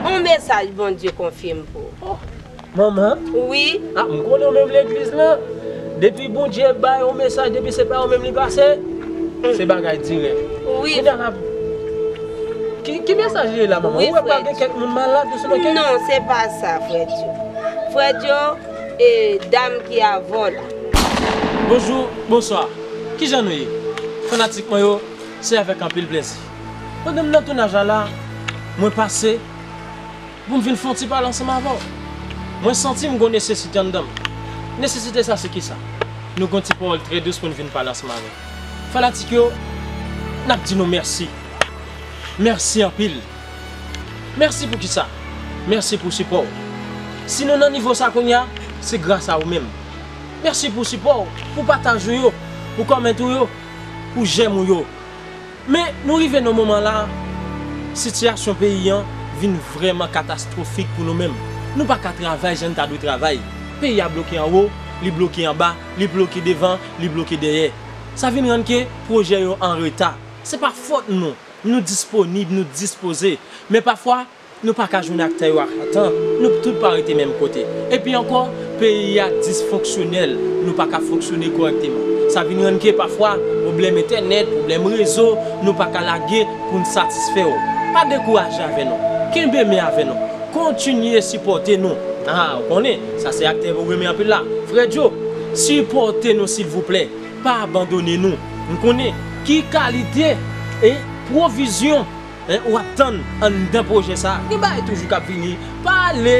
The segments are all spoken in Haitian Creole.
On mesaj Bondye konfye m pou ou. Manman? Wi? A m konnen ou menm legliz lan. Depi Bondye bay on mesaj depi se pa ou menm li pase, se bagay dirèk. Wi. Kounya la, ki mesaj li ye la manman? Ou wè pa gen kèk moun malad ou sinon kèk. Non, se pa sa frè Djo. Frè Djo, e dam ki avè w la. Bonjou, bonswa. Kijan nou ye fanatik mwen yo se avèk anpil plèzi pandan m nan tounaj la la mwen pase pou m vin fè yon ti pale ansanm avè w mwen santi m gon nesesite anndan m nesesite sa se kisa nou gon ti pawòl trè dous pou n vin pale ansanm avè fanatik yo n ap di nou mèsi mèsi anpil mèsi pou kisa mèsi pou sipò w si nou nan nivo sa kounya se gras a ou menm. Mèsi pou sipò ou, pou pataj ou yo, pou comment ou yo, pou j'aime ou yo. Men nou rive nan moman la, sitiyasyon peyi an vin vrèman katastwofik pou nou menm. Nou pa ka travay jan n ta dwe travay. Peyi a bloke anwo, li bloke anba, li bloke devan, li bloke dèyè. Sa vin rann ke pwojè yo an reta. Se pa fòt nou, nou disponib, nou dispoze. Men pafwa. Nou pa ka jwenn aktè yo ak atan, nou tout pa rete menm kote. Epi ankò, peyi a disfonksyonèl, nou pa ka fonksyone kòrèkteman. Sa vin rann ke pafwa, pwoblèm entènèt, pwoblèm rezo, nou pa ka lage pou n satisfè w. Pa dekouraje avè nou. Kenbe men avè nou. Kontinye sipòte nou. A, ou konnen, sa se aktè ou renmen anpil la. Frè Djo, sipòte nou silvouplè. Pa abandone nou. M konnen ki kalite e pwovizyon. Hein ou ap tann anndan pwojè sa gen bagay toujou kap vini pa ale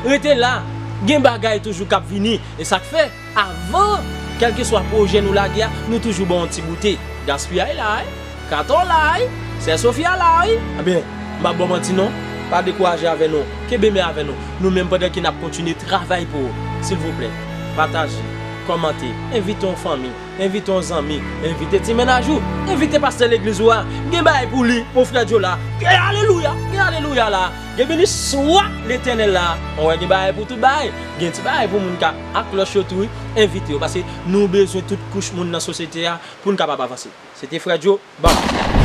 rete la gen bagay toujou kap vini esak fè avan kelkeswa pwojè nou lage a nou toujou baw yon ti goute Gaspiyay la wi Cator la wi sè Sofia la wi ebyen m pap baw manti non pa dekouraje avè nou kenbe men avè nou nou menm pandan ke nap kontinye travay pou ou silvouplè pataje kòmante envite yon fanmi. Envite yon zanmi, envite ti mennaj ou, envite pastè legliz ou a, gen bagay pou li mon frè Joe la, gen alelouya, gen alelouya la, gen beni swa letènèl la, ou wè gen bagay pou tout bagay, gen ti bagay pou moun ka ak klòch yo tou wi, envite yo paske nou bezwen tout kouch moun nan sosyete a pou n kapab avanse. Se te frè Joe, bam!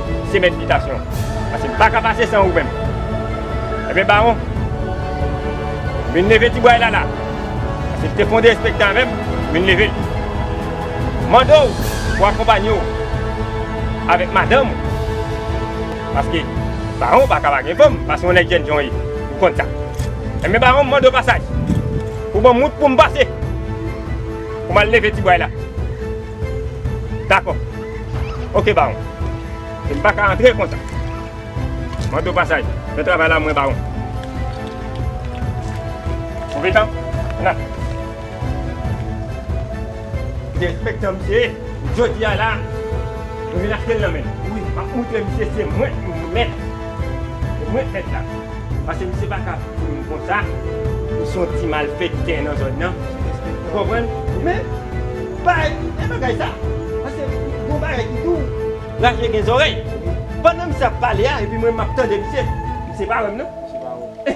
Se mèt bitasyon. Pase m paka pase san ou menm. Ebyen bawon, m vin leve ti bway la la. Pase li te fonde enspektè avè m, m vin leve l. M mande w pou akonpanye w avèk madanm ou. Paske bawon paka pa gen fanm, pase yon nèg jèn jan w ye, ou konn sa. Ebyen bawon, m mande w pasaj. Ou ban m wout pou m pase. Pou m al leve ti bway la. Dakò. Ok bawon. E m pa ka antre konsa. Mande w pasaj. Fè travay la mwen bawon. Konpetan. La. Koute enspektè misye ye. Jodi a la mwen vin achte l nan men l. Wi. M ap montre misye se mwen ki mèt. Se mwen ki mèt la. Pase misye pa ka foure m konsa. Li se yon ti malfèktè nan zòn nan. Ou konprann? Men. Pa ekite bagay sa paske gon bagay ki di w raje gen zòrèy. Pandan misye ap pale a epi mwen menm map tande misye, misye pa wè m nan,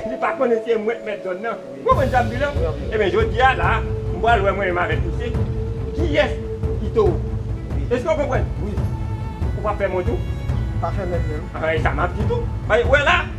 li pa konnen se mwen k mèt zòn nan. Ou konprann sa m di w la? Ebyen jodi a la m pral wè mwen menm avèk misye kiyès ki towo. Èske w konprann? Ou pap fè m wont tou? Pa fè m wont menm. E sa map di tou. Wè la!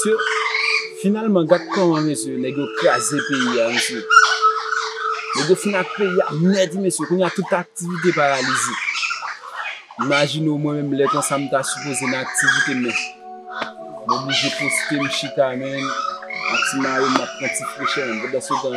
Mesye finalman gad kòman mesye nèg yo kraze peyi a mesye Nèg yo fin ak peyi a nèt mesye kounya tout aktivite paralize Imajine w mwen menm lè konsa m ta sipoze nan aktivite men m oblije poste m chita men ak ti mayo m ap pran ti frechè m pandan se tan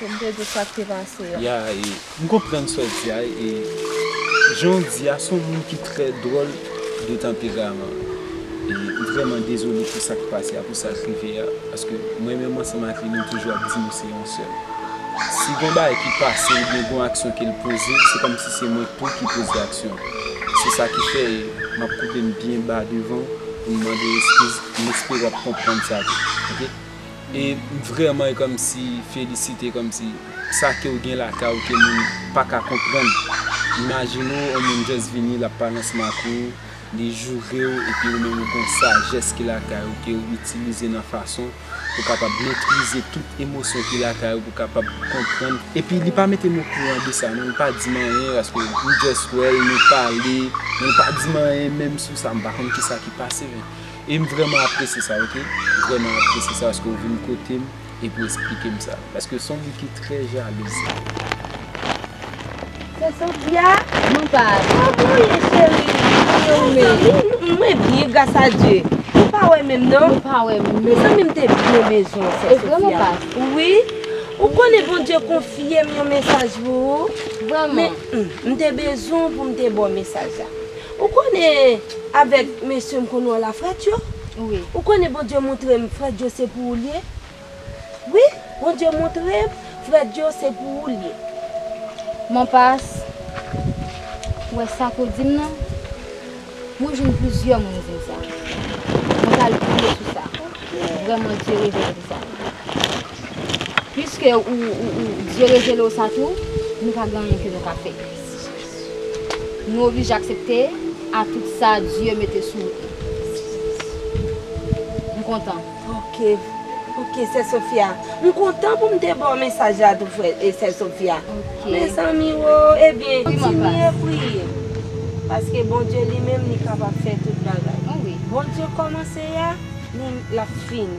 Pou m te di sak te pase a. Ya e m konprann sa w di a e jan w di a se yon moun ki trè dwòl de tanperaman e m vrèman dezole pou sa k pase a pou sa k rive a paske mwen menm ansanm ak li nou toujou ap di nou se yon sèl si gon bagay ki pase oubyen gon aksyon ke l poze se kòmsi se mwen tou ki poze aksyon an se sa ki fè e m ap koupe m byen ba devan w pou m mande w eskiz m espere w ap konprann sa tou ok. E m vrèman komsi felisite komsi sa kew gen lakay ou ke moun paka konprann imajine w on moun just vini lap pale ansanm ak ou li jourew epi ou menm ou gon sajès ki lakay ou kew itilize nan fason pou kapab metrize tout emosyon ki lakay ou pou kapab konprann epi li pa metem okouran de sa non li pa dim anyen paske m just wèl nou pale men li pa dim anyen menm sou sa m pa konn kisa ki pase. E m vrèman apresye sa ok. M vrèman apresye sa paske ou vin kote m epi ou esplike m sa. Paske s on moun ki trè jalouz. Sè Sofia? Mwen pa. Kòman ou ye cheri? Mwen ou menm? Mwen byen gras a Dye. Ou pa wè menm non. Mwen pa wè menm. Mezanmi m te byen bezwen ou sè Sofia. E vrèman pa. Wi. Ou konnen Bondye konfye m yon mesaj pou ou. Vrèman. Men, m te bezwen ou pou m te ba w mesaj la. Ou konnen avèk mesye m konn wè la frèt yo wi ou konnen Bondye moutre m frèt yo se pou ou l ye wi Bondye moutre m frèt yo se pou ou l ye. Mwen pa wè sa ke w di m nan mwen jwenn plizyè moun di m sa mwen pa l priye sou sa vrèman Dye revele m sa piske ou Dye revele w sa tou nou pa gen anyen ke nou ka fè. Nou oblije aksepte a tout sa Dye mete sou wout nou. M kontan. Ok. Ok sè Sofia. M kontan pou m te ba w mesaj la tou frè e sè Sofia. Ok. Mezanmi o ebyen kontinye priye paske Bondye li menm li kapab fè tout bagay. Bon wi. Bondye kòmanse a li lap fini.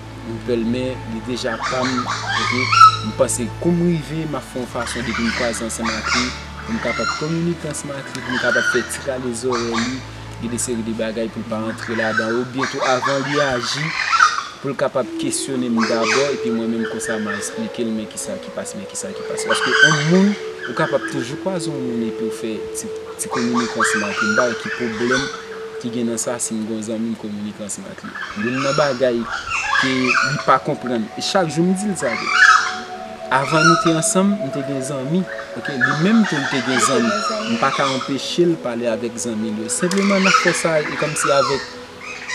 Ou pèl men li deja pam ok m panse koum rive map fè yon fason depim kwaze ansanm ak li poum kapab kominike ansanm ak li poum kapab fè ti rale zòrèy li gen de seri de bagay poul pa antre ladan yo byento avan li aji poul kapab kesyonem dabò epi mwen menm konsa ma esplikel men kisa ki pase men kisa ki pase paske yon moun ou kapab toujou kwaze yon moun epiw fè ti kominike ansanm ak li m pa wè ki pwoblèm ki gen nan sa sim gon zanmim kominike ansanm ak li. Youn nan bagay ke li pa konprann, e chak jou m di l sa tou. Avan nou te ansanm, m te gen zanmi, ok? Li menm tou li te gen zanmi. M pa ka anpeche l pale avèk zanmi l yo. Senpleman n ap fè sa e kòmsi avèk,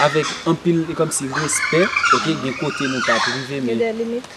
avèk anpil e kòmsi respè, ok? Gen kote nou pa t rive men. Gen dè limit.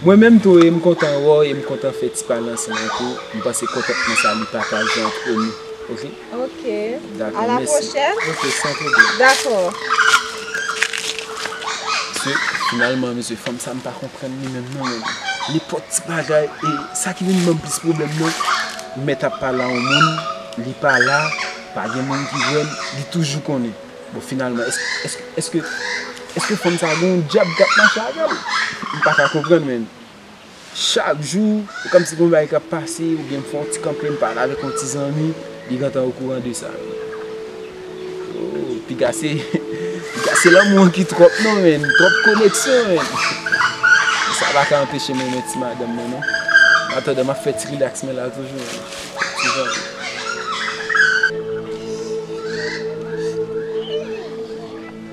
Mwen menm tou e m kontan wè w e m kontan fè ti pale ansanm ak ou. M panse kontantman sa li pataje antre nou. Ok a la pwochèn. Ok san pwoblèm. Dakò. Mesye finalman mesye fanm sa m pa konprann li menm non men. Nenpòt ti bagay e sa ki vin ban m plis pwoblèm nan mèt ap pale a yon moun li pa la pa gen moun ki wè l li toujou konnen. Bon finalman èske èske fanm sa gen yon dyab k ap mache avè l? M pa ka konprann menn. Chak jou, ou kòmsi gen yon bagay kap pase, oubyen m fè yon ti kanpe m pale avèk yon ti zanmi, li gentan okouran de sa. Ooh, piga se, piga se lanmou an ki twòp non menn, twòp koneksyon menn. Sa pa ka anpeche m renmen ti madanm mwen non. Annatandan map fè ti rilaks mwen la toujou menn, ti zanmi.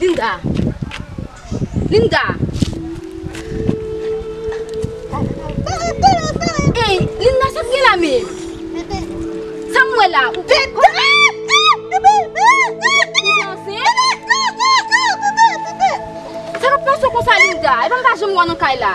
Linda! Linda! Ey! Linda sa k gen la menm? Sa m wè la? Ou te ansent? Sa k ap pase w konsa Linda? Epa m pa janm wè w nan kay la?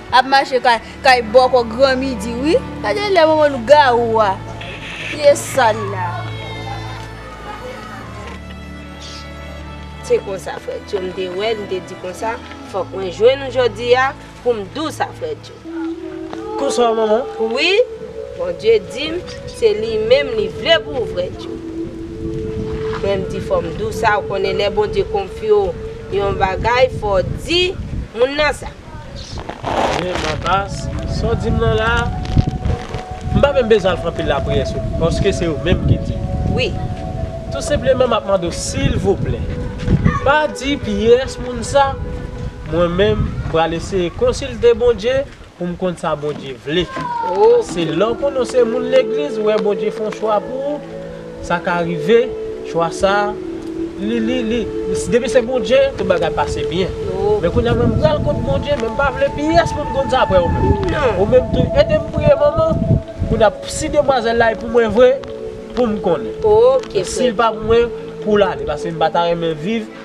Ap mache kay kay bòkò gran midi wi. Gade lè manman lougawou a pye sal la. Se konsa frèdjo m te wèl m te di konsa fòk mwen jwenn ou jodia poum diw sa frèdjo. Konsa w manman? Wi Bondye dim se li menm li vle pou ou frèdjo. Men m di fòm diw sa ou konnen lè Bondye konfye w yon bagay fò di moun nan sa. Gen ma bas, sa w di m lan la a? M pa menm bezwen al fè anpil lapriyè sou li, paske se yo menm ki di. Wi. Tou senpleman m ap mande w silvouplè, pa di pyès moun sa, mwen menm m pral eseye konsilte Bondye pou m konn sa Bondye vle. Pase lè w konnen w se moun legliz, ou wè Bondye fè yon chwa pou ou, Sa ka rive, chwa sa, li, li, li, depi se Bondye, tout bagay pase byen. Men kounye a mwen pral kont Bondye, men m pa vle pyès moun konn sa aprè ou menm. Ou menm tou, ede m priye manman, kounye a, si demwazèl la e pou mwen vre, pou m konnen. Si l pa pou mwen, pou l ale, paske m pa ta renmen viv.